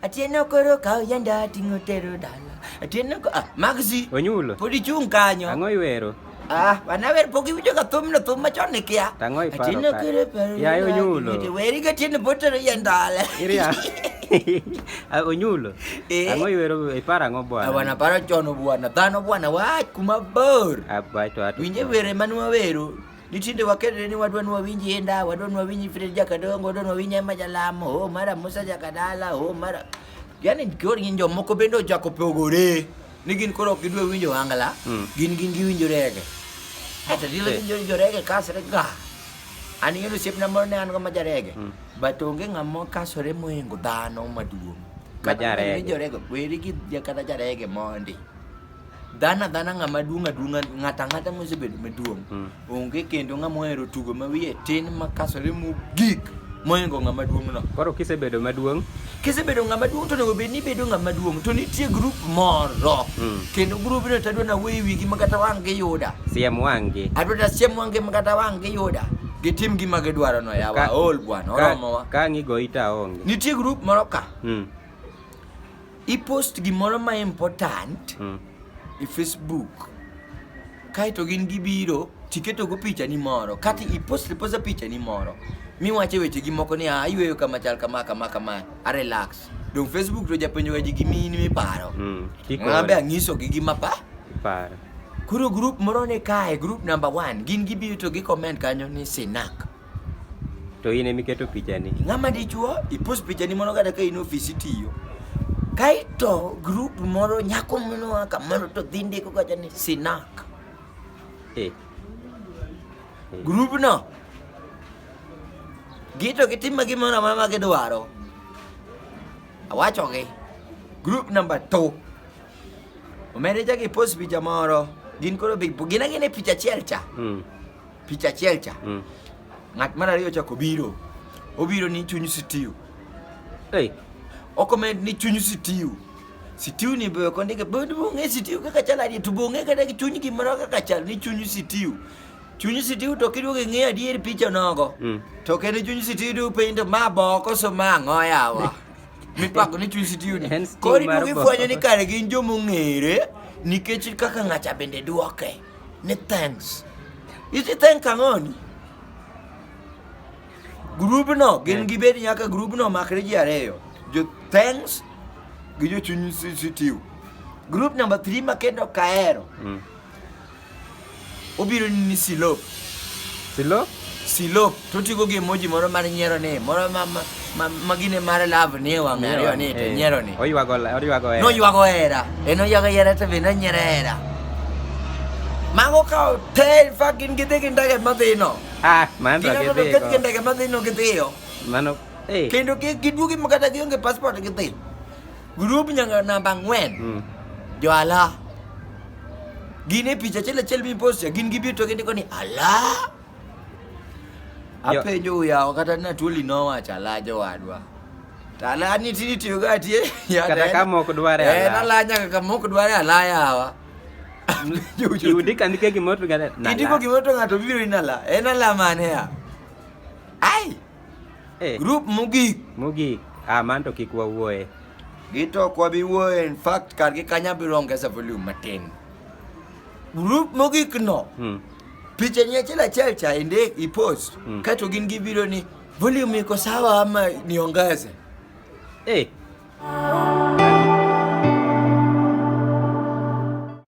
Atieno koro kaw yanda ting'o tero dala. Atieno ko ah, Maxi. Onyulo. Pod ichung' kanyo. Ang'o iwero? Ah, wanawer pok iwinjo ka thumno thum machon ni kia. Tang'o iparo Atieno ka- koro paro. Yaye yanda Onyulo. ting'o te- Weri ka tieno pod tero yandala. Iria. Ah, Onyulo. Eh. Ang'o iwero iparo ang'o bwana? Ah, Wanaparo chono bwana. Dhano bwana wach kuma bor. Abato ato. Winje were mane wawero. Nitinde wakelre ni wadwa ni wawinj inda, wadwa ni wawinj Fred Jakadongo, wadwa ni wawinj Emma Jalamo, oh, mara Musa Jakadala, oh, mara yani koro gin jomoko bende ochako pogore ni gin koro ok gidwa winjo wangla mm. gin gin giwinjo rege ata dilo eh. winjo winjo rege kasre ga an yudo osiepna moro ne an go ma jarege mm. but onge ng'ama kasore mohingo dhano maduong' kata winjo rege weri gi kata jarege mondi dhano adhana ng'ama duong' aduong'a ng'ato ang'ata mosebedo maduong' mm. onge kendo ng'ama ohero tugo ma wiye tin makasore mogik moingo ng'ama duong' no koro kisebedo maduong' kisebedo ng'ama duong' to onego bed ni ibedo ng'ama duong' to nitie grup moro mm. kendo grubno to adwa nawuoyo wigi ma kata wang' giyuda siem wang'gi adwa ta siem wang'gi ma kata wang' giyuda gitim gima gidwaro no yawa ol bwana oromowa ka ng'igo ita onge nitie grup moro ka mm. Ipost gimoro ma important mm. e Facebook kaeto gin gibiro tiketogo pichani moro kata ipost iposta pichani moro miwache wechegi moko ni ah, ayweyo kama chal kama kama kama arelax dong facebook to japenjoga ji gimini miparo mm, mabe ang'isogi gima pa paro koro grup moro ni kae grup number one gin gibiro to gi comment kanyo ni sinak To in emiketo pichani. Ng'ama dichuo ipos pichani mondo kata ka in ofisi tiyo. Kaito group moro nyako moro a kamoro to dhi ndiko kacha ni sinak. Eh. Group no gito gitimo gimoro amora ma gidwaro. Awachogi. Group number 2. Omende chak ipos picha moro. Gin koro big gin agina e picha achiel cha. Mm. Picha achiel cha. Mm. Ng'at mar ariyo chako biro. Obiro ni chuny sitiu. Hey. Okomed ni chuny sitiu. Sitiu ni be ok ondike bed bong'e sitiu kaka chal adier to bong'e kata gi chuny gimoro kaka chal ni chuny sitiu. Chuny sitiu to kiduogo ing'e adier picha nogo. Mm. To kendo chuny sitiu du piny to ma boko so ma ang'o yawa. Mipako ni chuny sitiu ni. En sitiu Koro mar iduogo boko. ifwenyo ni kare gin joma ong'ere nikech kaka ng'acha bende duoke. ni thanks iti thank ang'oni grubno gin gibed nyaka grubno makre ji ariyo jo thanks gi jochuny sitiu group number 3 makendo kaero obiro ni silop Silo? Silop to tigo gi emoji moro mar nyiero ni moro ma ma- ma- ma gine mar love ni e wang' ariyo ni to Eh, nyiero ni. Oywago oywago hera. Noywago hera. En oywago hera to be nonyiero hera. Mago kawo te fucking gidhi gi ndege madhino. Ah, mano to Gidhi gidhi. gi go. ndege madhino gidhiyo. Mano eh. Kendo gi- giduogi ma kata gionge passport gidhi. Grup nyanga namba ang'wen, Mm. jo ala. Gin e picha achiel achiel miposto, gin gibiro to gindiko ni ala. Jo- Apenjo yawa kata na tuoli nowacho ala jowadwa. To ala ni tini tiyo ga tie. ya Kata en- ka mok dware En ala. ala nyaka ka mok dware ala yawa. Yudika ndike gimoro to gane. Indiko gimoro to ng'ato biro in ala. En ala mane ya? Ai, Eh. Group mogik. Mogik. Ah, man to kik wawuoye. Gito kwa bi wuoye in fact kar gi kanya bi ronge sa volume matin. Group mogik no. Hmm. Picha ni achiel achiel cha inde i post. Hmm. Kato gin gi video ni volume iko sawa ama niongeze. Eh. Hey.